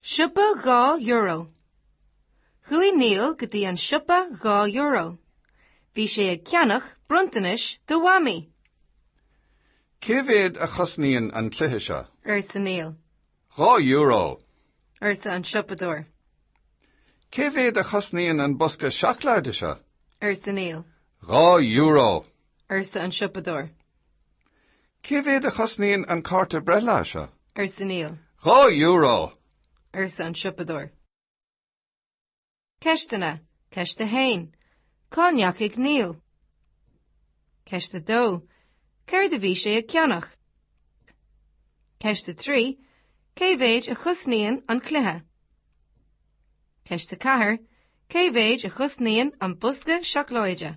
Siopa dhá euro. Chuaigh Neil go dtí an siopa dhá euro. Bhí sé ag ceannach bronntanais do Mhamaí. Cé mhéad a chosnaíonn an cluiche seo? arsa Neil. Dhá euro! arsa an siopadóir. Cé mhéad a chosnaíonn an bosca seacláide seo? arsa Neil. Dhá euro! arsa an siopadóir. Cé mhéad a chosnaíonn an cárta breithlae seo? arsa Neil. Dhá euro! arsa an siopadóir. Ceisteanna, Ceist 1. Cá ndeachaigh Neil? Ceist 2. Céard a bhí sé ag ceannach? Ceist 3. Cé mhéad a chosnaíonn an cluiche? Ceist 4. Cé mhéad a chosnaíonn an bosca seacláide?